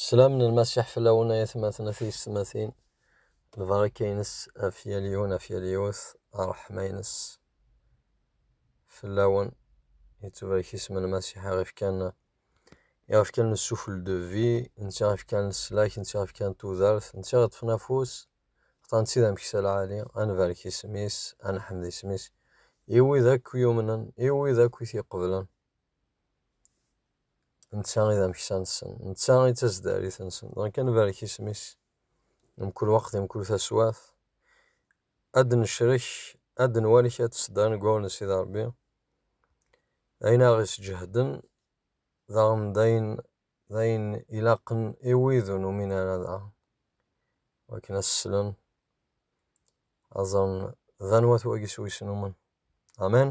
Slam n Lmasiḥ fell-awen ay atmaten a tiyessetmatin, lbaraka-nnes ɣef yal yiwen ɣef yal yiwet, ṛṛeḥma-nnes fell-awen, yettbarek isem n Lmasiḥ iɣef kan iɣef kan le souffle de vie, netta iɣef kan leslak, netta iɣef kan tudert, netta iɣef ṭṭfen afus, xaṭer netta d ameksa lɛali, ad nbarek isem-is, ad neḥmed isem-is, i wid akk yumnen, i wid akk i t-iqeblen. Netta i d ameksa-nsen, netta i d taseddarit-nsen, dɣa kan barek isem-is, mkul waqt di mkul taswiɛt, ad d-necrek, ad d-nwali kra n tseddarin deg wawal n Sidi Ṛebbi, ayen ara ɣ-isǧehden, daɣen d ayen, d ayen ilaqen i wid ur numin ara daɣen, akken ad s-slen, ad ẓren d anwa-t wagi s wi-s numen. Amen!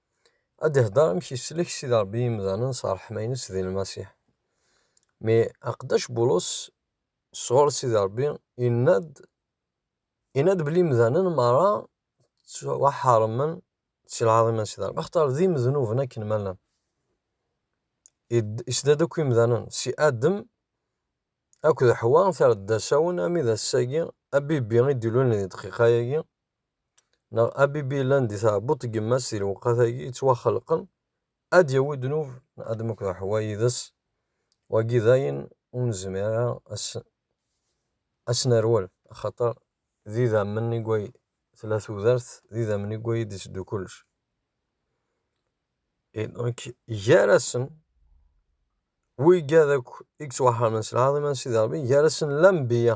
ad d-ihder amek yeslek Sidi Ṛebbi imdanen s ṛṛeḥma-ines di Lmasiḥ. Mi aqeddac Bulus sɣur Sidi Ṛebbi yenna-d yenna-d belli imdanen meṛṛa ttwaḥeṛṛmen si lɛaḍima n Sidi Ṛebbi axaṭer d imednuben akken ma llan. Isda-d akk imdanen si Adem akked Ḥwa terra-d d asawen armi d ass-agi abibbi i d-ilulen di ddqiqa-agi neɣ abibilan di tɛebbuḍt n yemma-s di lewqat-agi yettwaxelqen, ad d-yawi ddnub n Adam akked Ḥewwa yid-s, wagi d ayen ur nezmir ara ad s-nerwel, axaṭer d idammen i way tella tudert, d idammen i way i d-iteddu kullec. Gar-asen, wigad akk i yettwaḥermen s lɛaḍima n Sidi Ṛebbi, gar-asen Lanbiya.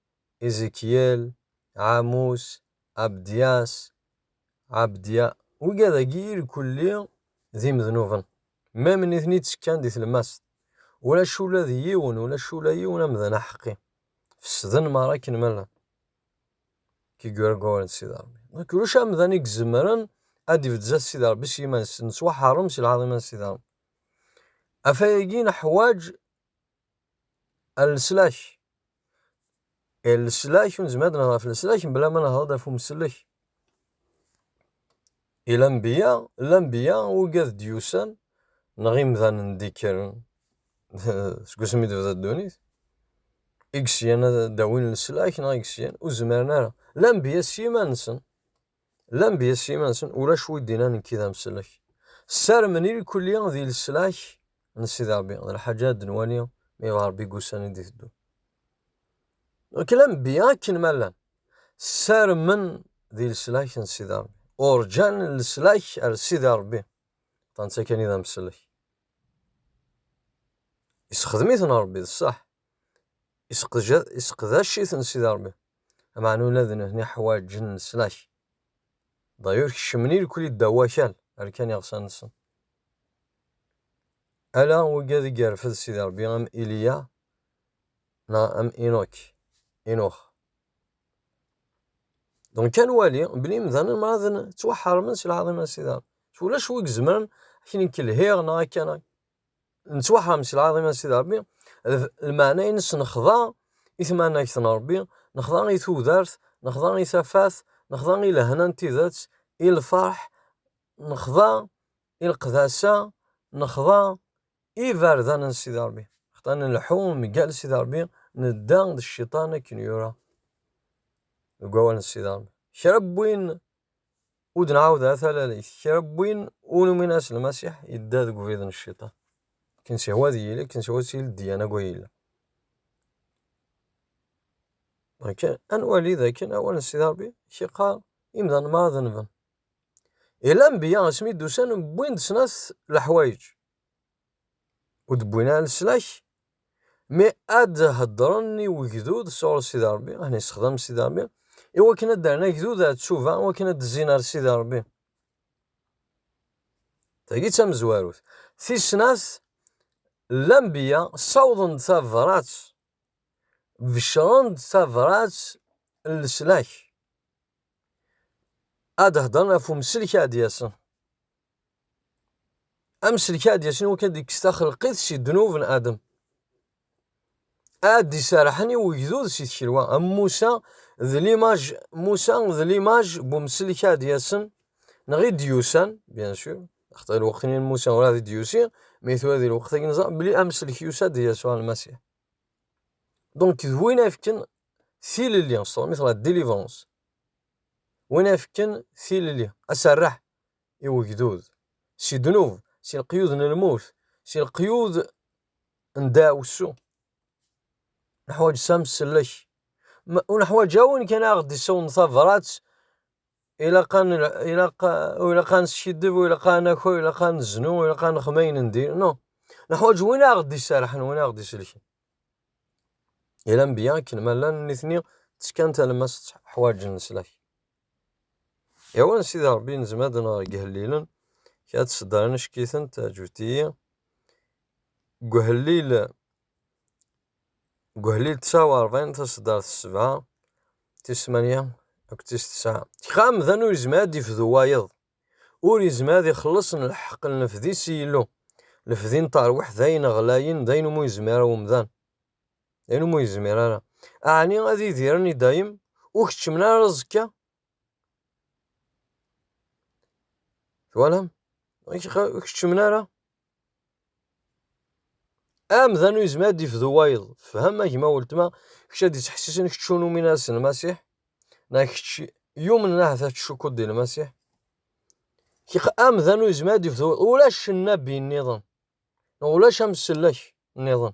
Izikyel, Ɛamus, Abdyas, Ɛabdya, wigad-agi irkulli d imednuben, mem nitni ttekkan di tlemmast, ulac ula d yiwen, ulac ula yiwen amdan aḥeqqi, fesden merra akken ma llan. Kigura Goren d Sidi Rebbi. Nek ulac amdan i izemren ad d-ibedd zdat Sidi Rebbi s yiman-is, nettwaḥeṛṛem si lɛaḍima n Sidi Rebbi. Ɣef wayagi neḥwaǧ Leslak, e leslak ur nezmir ad nehder ɣef leslak mebla ma nehder-d ɣef umsellek, e lanbiya, lanbiya ugad d-yusan neɣ imdanen d-ikkren seg wasmi d-tebda ddunit, i yesyan ad d-awin leslak neɣ i yesyan ur zmiren ara, lanbiya s yiman-nsen. Llan di yisima-nsen, ulac wi d-innan nekki d amsellek. Ssarmen i lkulli di leslak n Sidi Rebbi, d lḥaǧa ad d-nwali mi yebɣa Rebbi deg ussan i d-iteddun. Nekk d anebbi akken ma llan, ssarmen di leslak n Sidi Rebbi, urǧan leslak ar Sidi Rebbi, ṭṭan-tt akken i d amsellek. Yessexdem-iten Rebbi, d sseḥ, Iseqdac-iten Sidi Ṛebbi, ameɛna ula d nutni ḥwaǧen leslak. Dayur kecmen irkli ddaw wakal, rkan iɣsan-nsen. Ala wegad i yerfed Sidi Ṛebbi am Iliya neɣ am Inuk, Inux. Dɣa ad nwali belli imdanen merra ttwaḥeṛṛmen si lɛaḍima n Sidi Ṛebbi. Ulac wi izemren akken i k-lhiɣ neɣ akken. nettwaḥram si lɛaḍima n Sidi Ṛebbi, lmeɛna-ines nexḍa i tmanegt n Ṛebbi, nexḍa i tudert, nexḍa i tafat, nexḍa i lehna n tidet, i lferḥ, nexḍa i leqdasa, nexḍa i iberdan n Sidi Ṛebbi. Xḍa nleḥḥu mgal Sidi Ṛebbi, nedda d cciṭan akken yura deg wawal n Sidi Ṛebbi. Kra n win Ur d-nɛawed ara talalit. Kra n win ur numin ara s Lmasiḥ, yedda deg ubrid n Cciṭan. Akken s-ihwa ad yili, akken s-ihwa ad tili ddiyana deg waya yella. Akken, ad nwali d akken awal n Sidi Ṛebbi k-iqqar, imdanen merra denben. I lanbiya asmi d-usan wwin-d snat leḥwayeǧ. ur d-wwin ara leslak, mi ad d-heddren i wegdud sɣur Sidi Ṛebbi, ad ten-issexdam Sidi Ṛebbi, i wakken ad d-rren agdud ar tcuba, i wakken ad d-zzin ar Sidi Ṛebbi. Tagi d tamezwarut. Tis snat, Lanbeyya ssawḍen-d tabrat, beccren-d tabrat n leslak, ad d-heddren ɣef umselek i ad d-yasen. amselk ad d-yasen iwakken ad d-ikkes taxelqit si ddnub n Adem. Ad d-iserrḥen i ugdud si tkelwa am Musa d limaj Musa d limaj n umselk ad d-yasen neɣ i d-yusan bien sûr axaṭer lweqt-nni n Musa ur ad d-yusi mi tura di lweqt agi neẓra belli amselk yusa-d d Yasuɛ Lmasiḥ. Donc d win ay fken tilelli s tṛumit la délivrance. Win ay fken tilelli aserreḥ i wegdud, si ddnub, si leqyud n lmut, si leqyud n ddaɛwessu. Neḥwaǧ s amsellek. Ur neḥwaǧ awen kan aɣ d-isawḍen tabrat, ilaq an ilaq ur ilaq ad neskiddeb, ur ilaq ad naki, ur ilaq ad neznu, ur ilaq ad nexdem ayen n diri, non. Neḥwaǧ win aɣ d-iserrḥen, win aɣ d-isellken. I lanbiya akken ma llan nitni ttekkan talemmas ḥwaǧen leslak. Yawan a sidi Rebbi nezmer ad nɣer deg ihellilen kra n tseddarin acek-iten teɛǧeb-iyi deg uhellil deg uhellil tesɛa u ṛebɛin taseddart s sebɛa tis tmanya akked tis tesɛa kra amdan ur yezmir ad d-ifdu wayeḍ ur yezmir ad ixelleṣ n lḥeq n lefdi si Yillu lefdi n terwiḥt d ayen ɣlayen d ayen umi ur yezmir ara umdan Anum ur yezmir ara. Aɛni ad idiren i dayem, ur keččmen ara aẓekka? Twalam? Ur keččmen ara. Amdan ur yezmir ad d-ifdu wayeḍ. Fhem, a gma weltma, kečč ad d-ittḥessisen kečč ur numin ara s Lmasiḥ, neɣ kečč yumnen ahat ad tcukkuḍ di Lmasiḥ. Kik amdan ur yezmir ad d-ifdu, ulac nnabi nniḍen, neɣ ulac amsellek nniḍen.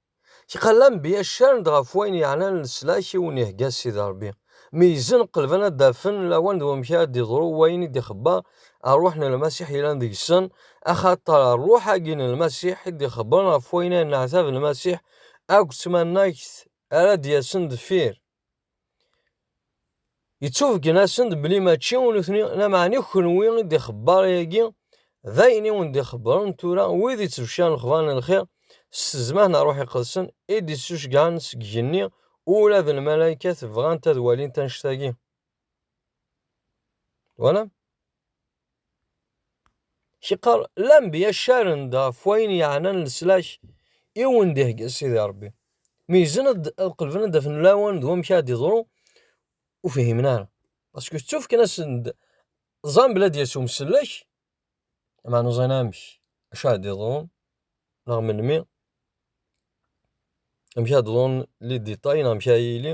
Tiqal anbiya ccaren-d ɣef wayen yeɛnan leslak i wen-ihegga Sidi Rebbi. Meyyzen, qelben ad d-afen lawan d wamek ara d-iḍru wayen i d-ixebber Rruḥ n Lmasiḥ yellan deg-sen, axaṭer Rruḥ-agi n Lmasiḥ i d-ixebbren ɣef wayen ay yenneɛtab Lmasiḥ akked tmannagt ara d-yasen deffir. Yettubeggen-asen-d belli mačči i nutni, lameɛna i kenwi i d-ixebbar ayagi, d ayen i wen-d-ixebbren tura wid ittbecciren lexbar n lxir s tezmah n Ṛṛuḥ Iqedsen i d-ittucegɛen seg igenni, ula d lmalaykat bɣant ad walint annect-agi. Twala? Ciqqar, lambiya ccaren-d ɣef wayen yeɛnan leslak i wen-d-ihegga Sidi Rebbi. Meyyzen ad qelben ad d-afen lawan d wamek ara d-iḍru, ur fihimen ara. Paske ttufken-asen-d, ẓan belli ad d-yas umsellek, meɛna ur ẓan amek, acu ara d-iḍru, neɣ melmi, amek ara d-ḍrun liditay neɣ amek ara yili.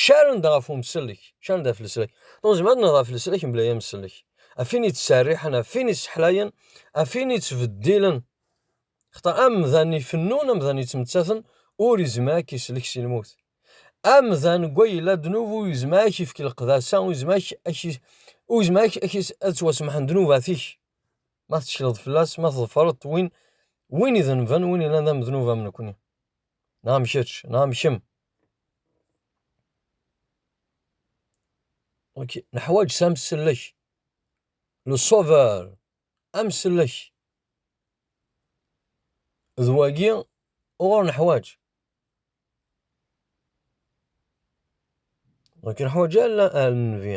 Caren-d ɣef umsellek, caren-d ɣef leslak. Neɣ nezmer ad nerr ɣef leslak mebla amsellek. Ɣef win yettserriḥen, ɣef win yesseḥlayen, ɣef win yettbeddilen. Xaṭer amdan ifennun, amdan yettmettaten, ur izmer ad k-isellek si lmut. Amdan deg way yella ddnub ur izmer ad k-ifk leqdasa, ur izmer ad ttwasemḥen ddnubat-ik. Ma tettekleḍ fell-as, ma tḍefreḍ-t, win idenben, win yellan d amednub am nekni. Nɛam kečč, nɛam kemm. Ok, neḥwaj s amsellek. Le sauveur, amsellek. D wagi uɣur neḥwaj. Ur k-neḥwaj ara a Nnbi.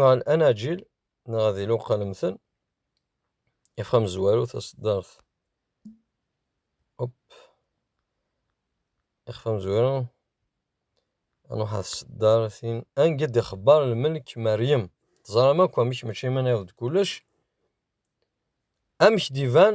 Ɣer anaǧil neɣ ad iluqalmten if amezwaru taseddart up ixef amezwaru nruḥ ar tseddartin anga d-ixebbar lmelk Meryem teẓram akk amek mačči iman-iw d kullec amek d-iban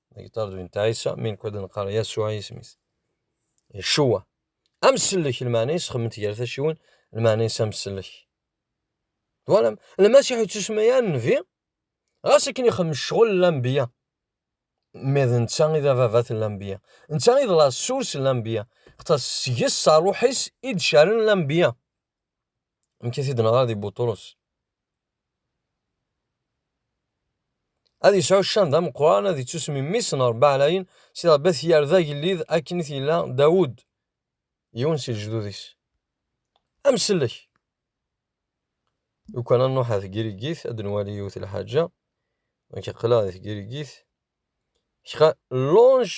La guitare de Inta Issa, mi nekk ad nqar Yasuɛ i yisem-is. Yeshua. Amsellek, lmeɛna-is xemment gar taciwin, lmeɛna-is amsellek. Twalam? Lmasiḥ yettusma ya nnbi, ɣas akken ixemmem ccɣel n lambiya. Mais d netta i d ababat n lambiya. Netta i d la source n lambiya. Xaṭer seg-s, s ṛṛuḥ-is, i d-caren lambiya. Amek i t-id-neɣra di Buṭrus? Ad yesɛu ccan d ameqqran, ad yettusem mmi-s n Ṛebbi Ɛlayen, si Ṛebbi ad t-yerr d agellid akken i t-yella Dawed, yiwen si lejdud-is. Amsellek! Lukan ad nṛuḥ ar Tgirigit, ad nwali yiwet n lḥaǧa, nekk aql-aɣ di Tgirigit, kra longe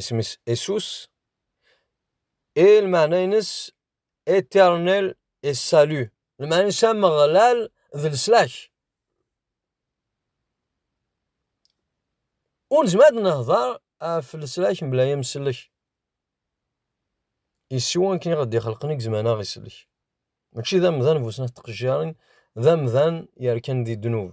isem-is Asus, i lmeɛna-ines Eternel et Salut, lmeɛna-ines Ameɣlal d leslak. Ur nezmer ad nehder ɣef leslak mebla amsellek. Yessi akken i ɣ-d-ixelqen i gezman aɣ isellek. Mačči d amdan bu snat tqejjirin, d amdan yerkan di ddnub.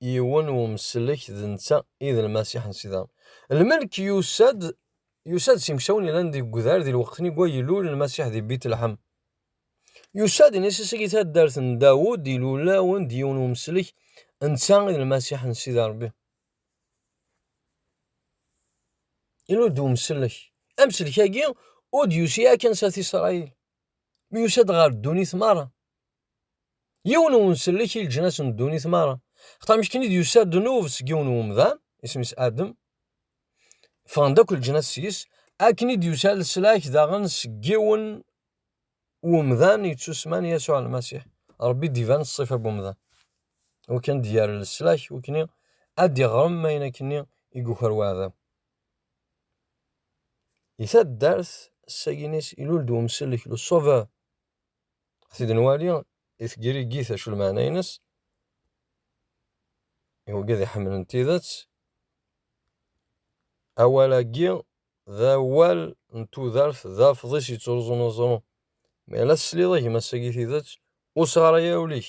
yiwen umsellek d netta i d Lmasiḥ n Sida. Lmelk yusa-d yusa-d s imeksawen yellan deg udar di lweqt nni gwa ilul Lmasiḥ di Bitlḥem. Yusa-d inessis agi taddart n Dawed ilulawen-d yiwen umsellek netta i d Lmasiḥ n Sida Rebbi. Ilul-d umsellek. Amsellek agi ur d-yusi yakan s at Isṛayil. Mi yusa-d ɣer ddunit meṛṛa. Yiwen uwensellek i leǧnas n ddunit meṛṛa. Xaṭer mi akken i d-yusa ddnub seg yiwen n umdan, isem-is Adem, ffɣen-d akk leǧnas seg-s, akken i d-yusa leslak daɣen seg yiwen n umdan yettusemman Yasuɛ Lmasiḥ, Ṛebbi i d-iban s ṣṣifa n wemdan, i wakken ad d-yerr leslak i wakken ad d-iɣrem ayen akken i yuker weɛdaw. Di taddart Saguenay, ilul-d wemsellek, le Sauveur, Tid n wali i tgrigit acu lmeɛna-ines, i wigi ad iḥemmlen tidet, awal-agi d awal n tudert d afḍis yettruẓun aẓru. Mi ara tesliḍ i gma-s-agi tidet, ur sɣaray ara ul-ik.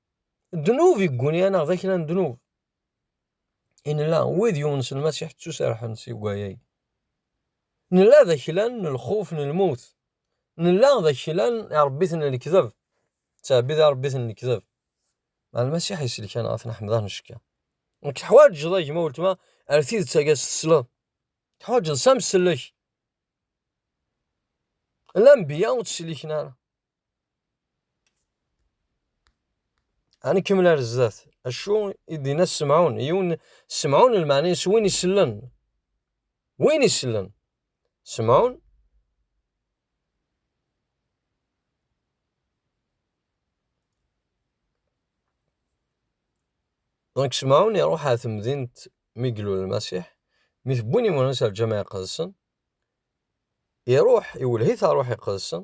ddnub yegguni-aneɣ d aklan ddnub. I nella wid yumensen Masiḥ ttuserḥen si wayay. Nella d aklan n lxuf n lmut. Nella d aklan irebbiten n lekdeb. Ttɛebbid irebbiten n lekdeb. Mɛa Lmasiḥ iselkan ɣef neḥmed-aɣ necka. Nekk teḥwaǧeḍ a gma weltma ar tidet aga s tesleḍ. Teḥwaǧeḍ s amsellek. Lambiya ur tt-sliken ara. Ani kemmel ar zdat. Acu i d-inna Semɛun? Yiwen Semɛun lmeɛna-is win isellen. Win isellen. Semɛun Donc Semɛun iruḥ ar temdint mi glul Lmasiḥ, mi tewwin imuras ar Lǧameɛ Iqedsen, iruḥ iwelleh-it ar Ṛuḥ Iqedsen,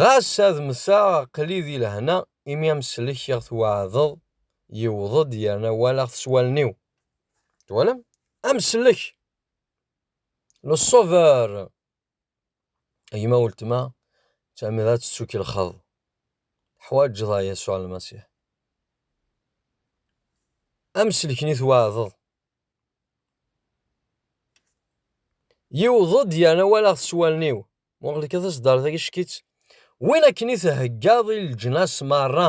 Ɣas ad mteɣ aql-i di lehna imi amsellek i ɣ-tweɛdeḍ yewweḍ-d yerna walaɣ-t s wallen-iw. Twalam? Amsellek! Le Sauveur! A gma weltma, ttɛemmideɣ ad tettukelxeḍ. Teḥwaǧeḍ a Yasuɛ Lmasiḥ. Amsellek-nni tweɛdeḍ. Yewweḍ-d yerna walaɣ-t s wallen-iw. Muɣel kan taseddart agi ckit win akken i theggaḍ i leǧnas merra.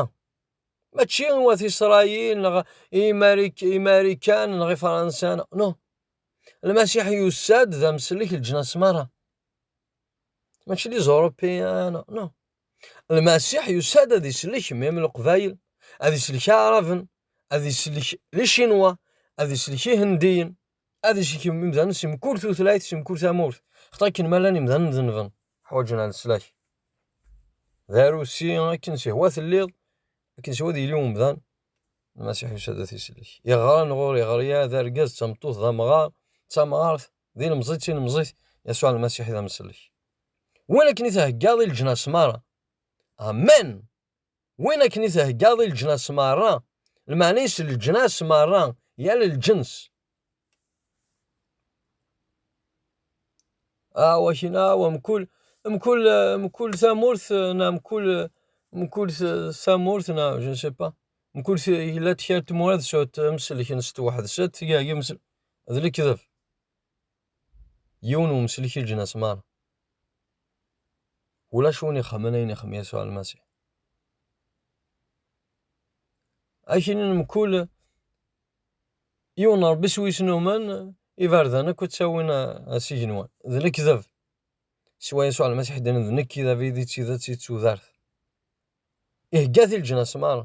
Mačči i wat Isṛayil neɣ i Imarikan neɣ i Fransan. No. Lmasiḥ yussa-d d amsellek leǧnas merra. Mačči d Iẓurupiyan. No. Lmasiḥ yussa-d ad isellek mim Leqbayel, ad isellek Aɛraben, ad isellek Licinwa, ad isellek Ihendiyen. ad isekem imdanen si mkul tutlayt, si mkul tamurt. Xaṭi akken ma llan imdanen dennben, ḥwaǧen ad neslak. D arusi akken sihwa telliḍ, akken sihwa ad yili umdan, Lmasiḥ yusa-d ad t-isellek. Iɣran ɣur iɣriya, d argaz, d tameṭṭut, d amɣar, d tamɣart, d ilemẓi, d tilemẓit, Yasuɛ Lmasiḥ i d amsellek. Win akken i theggaḍ i leǧnas meṛṛa. Amen! Win akken i theggaḍ i leǧnas merra, lmeɛna-is leǧnas merra, yal lǧens. Ah, wakin, ah, wa mkul, mkul, mkul tamurt, na mkul, mkul tamurt, na, je ne sais pas, mkul yella-d kra n tmura d sut, mselken s tweḥd-s, ad tgagem, d lekdeb. Yiwen wemslek i leǧnas meṛṛa. Ulac win ixemmen ayen ixem Yasuɛ Lmasiḥ. Akkin n mkul yiwen n Ṛebbi s wis numen, iberdan akk ttawin s igenwan. D lekdeb. Siwa Yasuɛ Lmasiḥ i d-yennan d nekk i d abrid, i d tidet, i d tudert. Ihegga-t i leǧnas meṛṛa.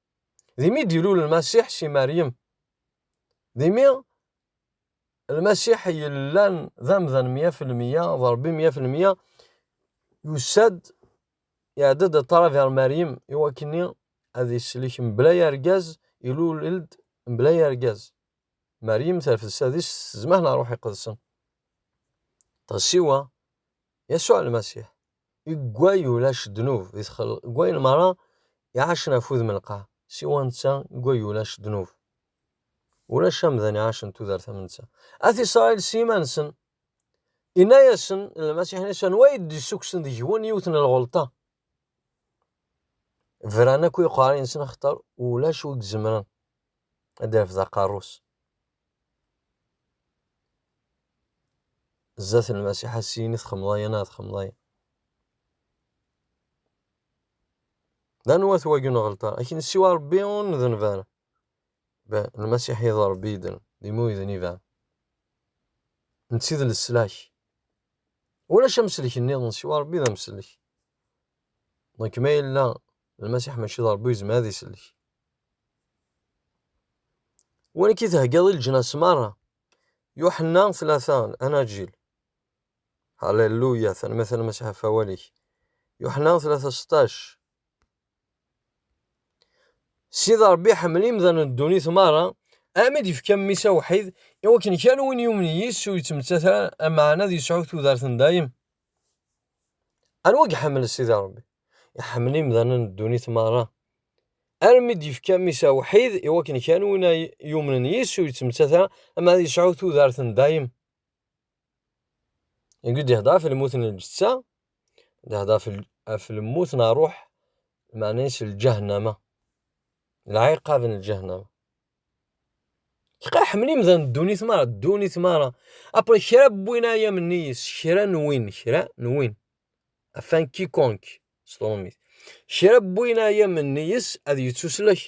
D imi d-ilul Lmasiḥ si Meryem. D imi Lmasiḥ yellan d amdan mya f lmya, d Ṛebbi mya f lmya, yusa-d, iɛedda-d a ṭṭrad ar Meryem, i wakken-nni ad islek mebla yargaz, ilul-ed mebla yargaz. Meryem terfed s adis s zzmah n Ṛuḥ Iqedsen. Ɣas siwa, Yasuɛ Lmasiḥ, iggway ulac ddnub di txel, iggwayen meṛṛa iɛacen ɣef wudem n lqaɛ, siwa netta, iggway ulac ddnub. Ulac amdan iɛacen tudert am netta. At Isṛail s yiman-nsen, inna-yasen Lmasiḥ, inna-yasen, anwa i d-issukksen deg-wen yiwet n lɣelṭa? Bran akk i uqerri-nsen axaṭer ulac wi izemren. ad d-irfed aqerru-s zdat n Lmasiḥ ad s-yini txemmeḍ aya neɣ txemmeḍ aya. D anwa-t wagi n uɣelṭar? Akken siwa Ṛebbi ur ndenb ara. Lmasiḥ i d Ṛebbi i ddren, d imi ur yedn iban. Netta i d leslak. Ulac amsellek nniḍen siwa Ṛebbi d amsellek. Donc ma yella Lmasiḥ mačči d Ṛebbi yezmer ad isellek. Win akka i theggaḍ i leǧnas meṛṛa. Yuḥenna tlata, Anaǧil. Halleluya, tanemmirt a Lmasiḥ ɣef wawal-ik. Yuḥenna tlata seṭṭac. Sid Ṛebbi iḥemmel imdanen n ddunit meṛṛa, armi d-yefka mmi-s awḥid, i wakken kan win yumen yis-s ur yettmettat ara, lmeɛna ad yesɛu tudert n dayem. Anwa i iḥemmel Sidi Ṛebbi? Iḥemmel imdanen n ddunit meṛṛa, armi i d-yefka Mmi-s awḥid i wakken kan win ay yumnen yis-s ur yettmettat ara, ama ad yesɛu tudert n dayem. Deg i d-ihedder ɣef lmut n lǧetta, d-ihedder ɣef lmut n ṛṛuḥ, lmeɛna-is lǧahennama, lɛiqab n lǧahennama. Tqa ḥemmel imdan ddunit mara ddunit mara après kra n win ay am-nni-is kra n win kra n win afin quiconque s tṛumit kra n win ay am-nni-is ad yettuslek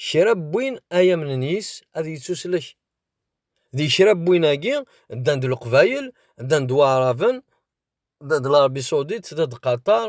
kra n win ay am-nni-is ad yettuslek di kra n win-agi ddan-d leqbayel ddan-d waɛraben ddan-d Larbi Sawdit ddan-d Qatar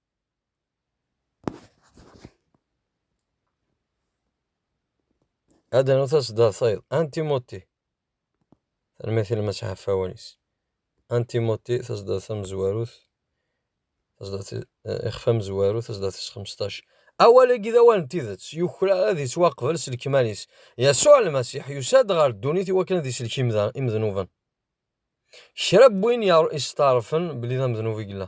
Ad d-nernu taseddart tayeḍ, antimoti, tanemmirt i Mass Ɛeffawan-is, antimoti taseddart tamezwarut, taseddart ixef amezwaru, taseddart tis xmesṭac. Awal-agi d awal n tidet, yuklal ad yettwaqbel s lekmal-is. Yasuɛ Lmasiḥ yusa-d ɣer ddunit i wakken ad isellek imednuben. Kra n win yesteɛṛfen belli d amednub i yella.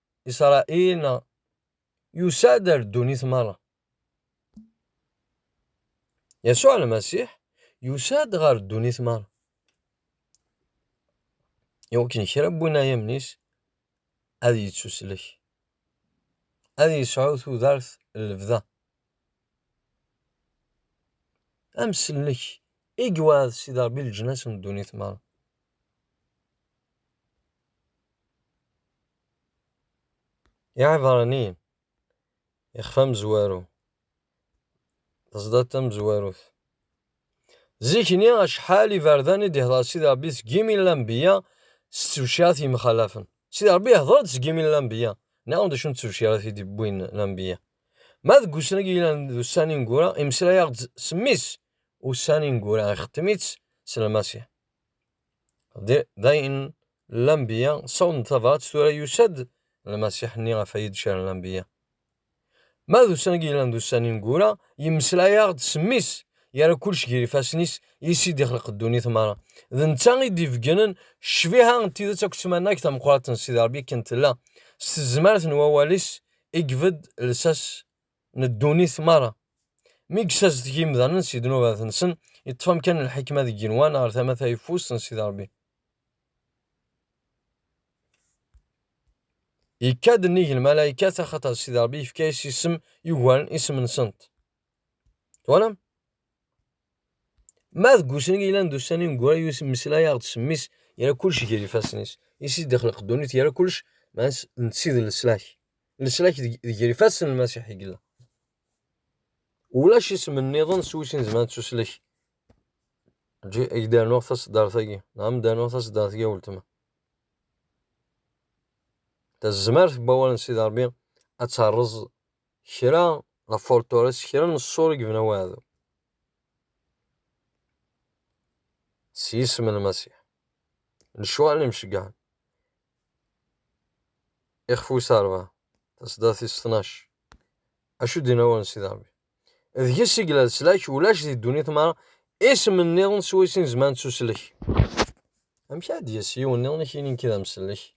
Isṛail neɣ yusa-d ar ddunit meṛṛa? Yasuɛ Lmasiḥ yusa-d ɣer ddunit meṛṛa i wakken kra n winayamen-is ad yettuslek, ad yesɛu tudert n lebda. Amsellek i yewɛed Sidi Ṛebbi leǧnas n ddunit meṛṛa. I iɛebṛaniyen, ixef amezwaru, taẓdadt tamezwarut. Zik-nni acḥal iberdan i d-ihdeṛ Sidi Ṛebbi seg yimi n lanbeyya s ttebcirat yemxalafen. Sidi Ṛebbi ihdeṛ-d seg yimi n lanbeyya. Nniɣ-awen-d acu n ttebcirat i d-iwwin lanbeyya. Ma deg ussan-agi yellan d ussan ineggura, imeslay-aɣ-d s mmi-s ussan ineggura, ixetem-itt s Lmasiḥ. D ayen Lanbiya sawḍen-d tabrat, tura yusa-d Lmasiḥ-nni ɣef ay d-caren Lanbiya. Ma d ussan-agi yellan d ussan ineggura, yemmeslay-aɣ-d s mmi-s, yerra kullec gar ifassen-is, yes-s i d-ixleq ddunit merra. D netta i d-ibeggnen ccbiha n tidet akked tmannagt tameqqrant n Sidi Rebbi akken tella, s tezmert n wawal-is i ibedd lsas n ddunit merra. Mi yessazedeg imdanen si ddnubat-nsen, yeṭṭef amkan n lḥikma deg yigenwan ɣer tama tayeffust n Sidi Rebbi. Yekka-d nnig lmalaykat axaṭer Sidi Rebbi yefka-as isem yugaren isem-nsent. Twalam? Ma deg usnig yellan d ussan ineggura yemmeslay-aɣ-d s mmi-s yerra kullec ger ifassen-is, i s-id-ixleq ddunit yerra kullec maɛna netta i d leslak, leslak deg ger ifassen n Lmasiḥ i yella. Ulac isem nniḍen s wis nezmer ad nettuslek. Eǧǧ-iyi ad ak-d-rnuɣ taṣeddart-agi, neɣ ad am-d-rnuɣ taṣeddart-agi a weltma. Tazmert n wawal n Sidi Ṛebbi ad terreẓ Kra ɣef Fortores, kra n ṣṣur i yebna waɛdu s yisem n Lmasiḥ, lecɣal n imceggɛen, ixef wis rebɛa, taseddart tis tnac, acu d-yenna wawal n Sidi Rebbi. Deg-s i yella leslak, ulac di ddunit mara isem nniḍen swayes i nezmer ad nettuslek. Amek ara d-yas yiwen nniḍen i k-yinin nekki d amsellek?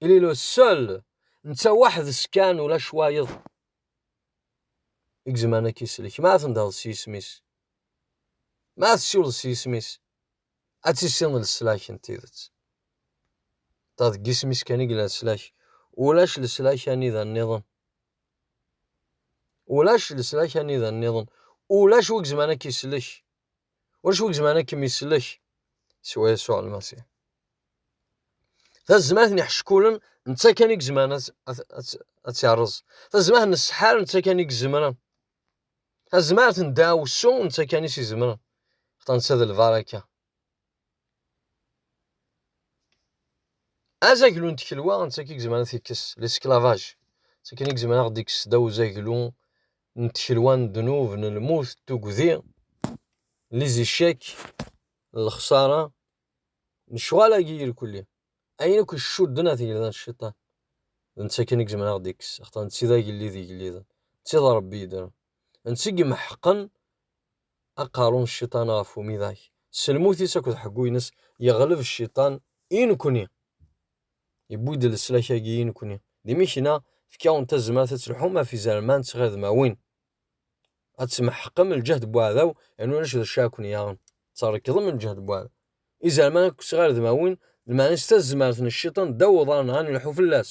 il est le seul netta waḥdes kan ulac wayeḍ i yezmeren ad k-isellek ma tendeḍ s yisem-is ma tessiwleḍ s yisem-is ad tissineḍ leslak n tidet ta deg yisem-is kan i yella leslak ulac leslak anida nniḍen ulac leslak anida nniḍen ulac wi yezmeren ad k-isellek Ulac wi izemren ad kem-isellek siwa Yasuɛ Lmasiḥ. Tazmert n iḥeckulen netta kan i izemren ad tt-irreẓ. Tazmert n ssḥar netta kan i izemren. Tazmert n ddaɛwessu netta kan i s-izemren. Xaṭer netta d lbaraka. azaglu n tkelwa netta i yezmer ad t-ikkes l'esclavage netta kan i yezmer ad ɣ-d-ikkes daw uzaglu n tkelwa n ddnub n lmut n tugdi les échecs n lexsara lecɣal-agi irkelli ayen akk icudden ar tgelda n cciṭan d netta kan i yezmer ad ɣ-d-ikkes axaṭer netta i d agellid igelliden netta i d rebbi yeddren netta i imeḥqen Aqerru n cciṭan ɣef umidag, s lmut-is akked ḥeggu-ines, yeɣleb cciṭan i nekkni. Yewwi-d leslak-agi i nekkni. D imikna, efk-awen tazmert ad telḥum ɣef izerman d tɣiḍmawin, ad tmeḥqem lǧehd n weɛdaw, yernu ulac d acu ara ken-yaɣen, trekḍem lǧehd n weɛdaw. Izerman akked tɣirdmawin, lmeɛna-is tazmert n cciṭan ddaw uḍar-nneɣ, ad nelḥu fell-as.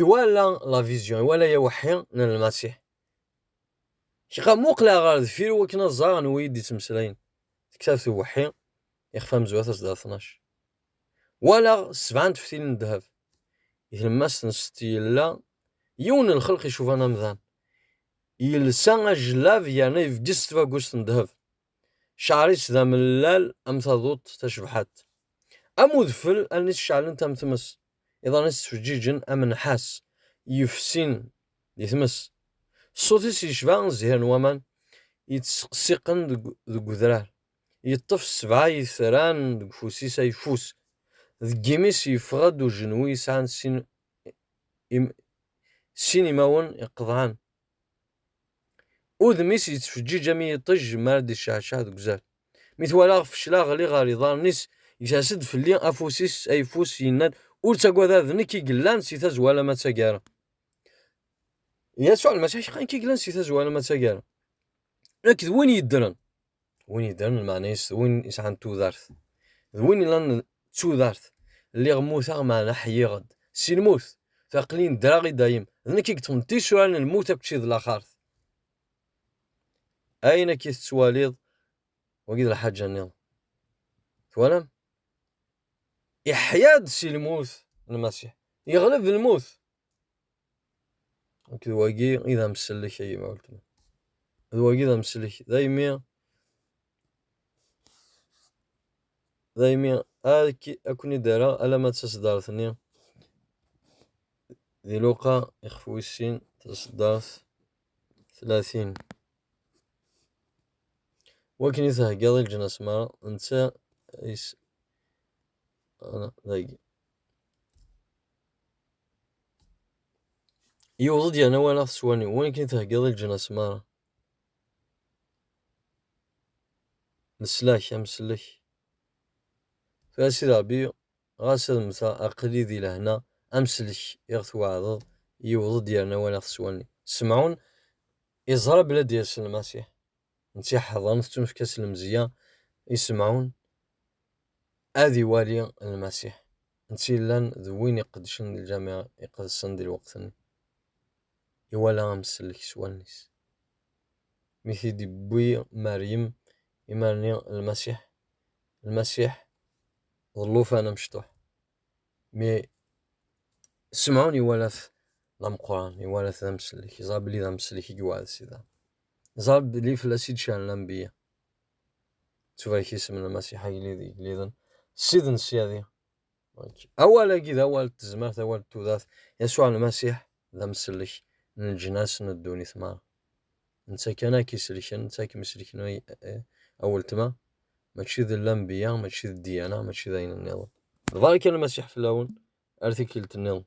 Iwala la vision, iwala yaweḥḥi n Lmasiḥ. Kra muqleɣ ɣer deffir i wakken ad ẓreɣ anwa i d-ittmeslayen. Tektabt uweḥḥi, ixef amezwa tasda tnac. Walaɣ sebɛa n teftilin n ddheb. I tlemmast n setti yella yiwen n lxelq icuban amdan. Yelsa ajellab yerna yebges tbagust n ddheb. Cceɛr-is d amellal am taduṭ tacebḥadt. Am udfel, allen-is ceɛlent am tmes, iḍan-is ttfeǧǧiǧen am nnḥas yefsin di tmes. Ṣṣut-is yecba zzhir n waman yettseqsiqen deg udrar. Yeṭṭef ssebɛa yetran deg ufus-is ayeffus. Deg imi-s yeffeɣ-d ujenwi yesɛan sin imawen iqeḍɛen. Udem-is yettfeǧǧiǧ am yiṭij mi ara d-iceɛceɛ deg uzal. Mi twalaɣ feclaɣ ɣli ɣer iḍarren-is, gers-d fell-i afus-is ayeffus yenna-d, Ur ttagad ad nekk i yellan si tazwara alamma d taggara. Yasuɛ Lmasiḥ, Ḥqa nekk i yellan si tazwara alamma d taggara. Nekk d win yeddren. win yeddren lmeɛna-is d win yesɛan tudert, d win yellan d tudert, lliɣ mmuteɣ meɛna ḥyiɣ-d si lmut, d aqlin ddreɣ i dayem, d nekk i yeṭṭfen tisura n lmut akked tid n laxert. Ayen akka i tettwaliḍ, wagi d lḥaǧa nniḍen. Twalam? Iḥya-d si lmut Lmasiḥ, yeɣleb lmut Nekk d wagi i d amsellek a yemma weltma. D wagi d amsellek daymi daymi ad ken-id-rreɣ alamma d taseddart-nni d iluqqa ixef wis sin taseddart tlatin. Wakken i theggaḍ i leǧnas merra netta is dagi. Yewweḍ-d yerna walaɣ-t s wallen-iw, win akken i theggaḍ i leǧnas merra. Nesla-k, amsellek. Tura Sidi Ṛebbi, ɣas ad mmteɣ, aql-i di lehna, amsellek i ɣ-tweɛdeḍ, yewweḍ-d yerna walaɣ-t s wallen-iw. Semɛun iẓra belli ad d-yas Lmasiḥ. n tiḥeḍren tettunefk-as lemzeyya i Semɛun ad iwali Lmasiḥ, netta yellan d win iqeddcen di Lǧameɛ Iqedsen di lweqt-nni. Iwala amsellek s wallen-is. Mi t-id-iwwi Meryem imarni n Lmasiḥ, Lmasiḥ d llufan amecṭuḥ. Mi Semɛun iwala-t d ameqqran, iwala-t d amsellek, yeẓra belli d amsellek i yewɛed Sida. Neẓra belli fell-as i d-cehlen anbiya. Tubarek isem n Lmasiḥ agellid igelliden, Ssid n syadi. Awal-agi d awal n tezmert, awal n tudert. Yasuɛ Lmasiḥ d amsellek n leǧnas n ddunit meṛṛa. Netta kan ad k-isellken, netta ad kem-isellken a weltma, mačči d lanbiya, mačči d ddiyana, mačči d ayen nniḍen. D berka Lmasiḥ fell-awen ar tikkelt nniḍen.